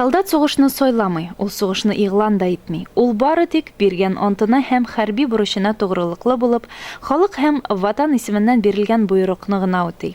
Солдат сугышны сайламый, ул сугышны игълан да итми. Ул бары тик биргән антына һәм хәрби бурычына тугрылыклы булып, халык һәм Ватан исеменнән бирелгән боерыкны гына үти.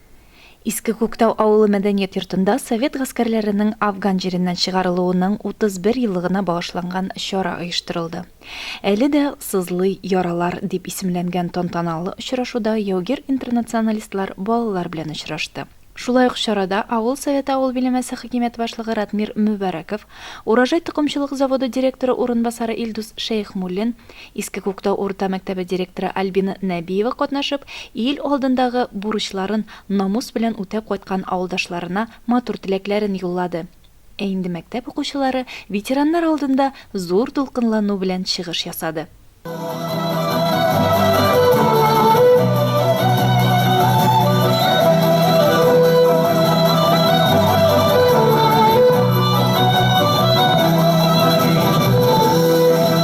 Иске Күктау авылы мәдәният йортында совет гаскәрләренең Афган җиреннән чыгарылуының 31 еллыгына багышланган чара оештырылды. Әле дә сызлый яралар дип исемләнгән тантаналы очрашуда яугир интернационалистлар балалар белән очрашты. Шулай ук чарада авыл Советы авыл биләмәсе хакимияте башлыгы Радмир Мөбарәков, Урожай токымчылык заводы директоры урынбасары Илдус Шәехмуллин, Иске Күктау урта мәктәбе директоры Альбина Нәбиева катнашып, ил алдындагы бурычларын намус белән үтәп кайткан авылдашларына матур теләкләрен юллады. Ә инде мәктәп укучылары ветераннар алдында зур дулкынлану белән чыгыш ясады.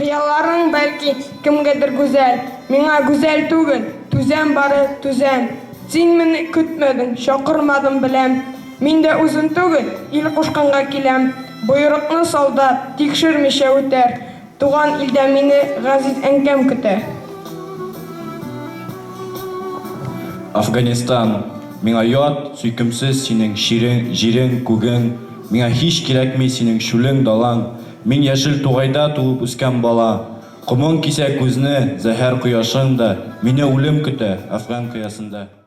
Кыялларың бәлки кемгәдер гүзәл, Миңа гүзәл түгел, түзәм бары, түзәм. Син мине көтмәдең, чакырмадың, беләм. Мин дә үзем түгел, ил кушканга киләм. Боерыкны солдат, тикшермичә үтәр. Туган илдә мине газиз әнкәм көтә. Афганистан, миңа ят, сөйкемсез синең чирең, җирең, күгең, миңа һич кирәкми синең чүлең, далаң, мин яшел тугайда туып үскән бала, комың кисә күзне, зәһәр кояшың да, мине үлем көтә, Афган кыясында.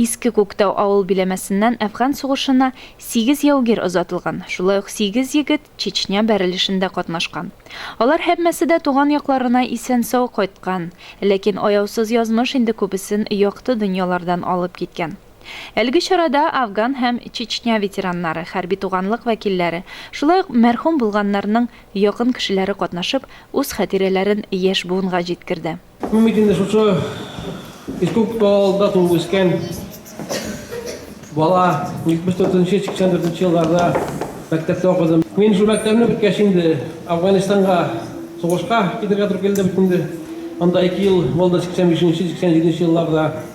Иске Күктау авыл биләмәсеннән Әфган сугышына сигез яугир озатылган, шулай ук сигез егет Чечня бәрелешендә катнашкан. Алар һәммәсе дә туган якларына исән-сау кайткан, ләкин аяусыз язмыш инде күбесен якты дөньялардан алып киткән. Әлеге чарада Афган һәм Чечня ветераннары, хәрби туганлык вәкилләре, шулай ук мәрхүм булганнарның якын кешеләре катнашып, үз хатирәләрен яшь буынга җиткерде. Күп бит инде шушы Искук Талалда туып үскән бала, 74 нче, 84 нче елларда мәктәптә укыдым. Мин шул мәктәпне беткәч инде Афганистанга сугышка китергә туры килде бит инде. Анда ике ел булды, 85 нче, 87 нче елларда.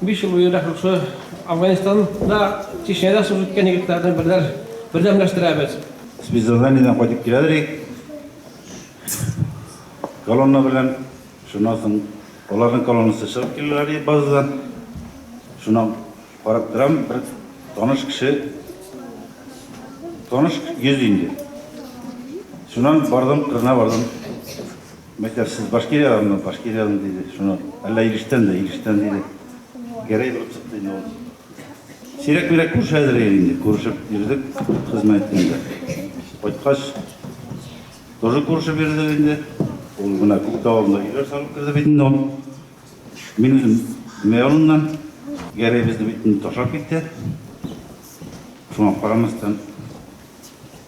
Биш ел буе нәкъ шушы Афганстанда, Чечняда сугыш иткән егетләрне берләр, бердәмләштерәбез. Спецзаданиедән кайтып киләдер ик, колонна белән. Шуннан соң аларның колоннасы чыгып киләләр ик базадан. Шуннан карап торам, бер таныш кеше, таныш йөз инде. Шуннан бардым, кырына бардым. Мәктәп, сез Башкирия ягыннан, Башкириядән, диде. Шуны, әллә Илештән дә, Илештән, диде. Гәрәй булып чыкты инде ул. Сирәк-мирәк күршә әзерләгән инде, күрешеп йөрдек хезмәт иткәндә. Кайткач, тоже күрешеп йөрдек инде. Ул менә Күктау авылында өйләр салып керде бит инде ул. Мин үзем Мә авылыннан. Гәрәй безне бит инде ташлап китте. Шуңа карамастан.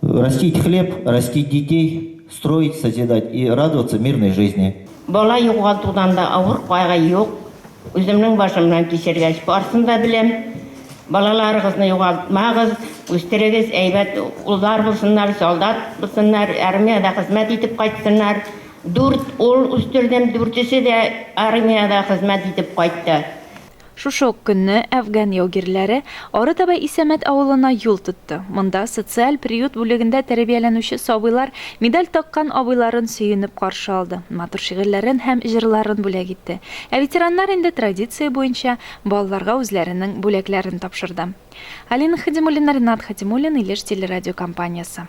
Растить хлеб, растить детей, строить, созидать и радоваться мирной жизни. Бала югалтудан да авыр кайгы юк. Үземнең башымнан кичергәч, барсын да беләм. Балаларыгызны югалтмагыз, үстерегез, әйбәт уллар булсыннар, солдат булсыннар, армиядә хезмәт итеп кайтсыннар. Дүрт ул үстердем, дүртесе дә армиядә хезмәт итеп кайтты. Шушы ук көнне әфган яугирләре арытаба Исәмәт авылына юл тотты. Монда социаль приют бүлегендә тәрбияләнүче сабыйлар медаль таккан абыйларын сөенеп каршы алды, матур шигырьләрен һәм җырларын бүләк итте. Ә ветераннар инде традиция буенча балаларга үзләренең бүләкләрен тапшырды. Алина Хадимуллина, Ренат Хатимуллин, Илеш телерадиокомпаниясе.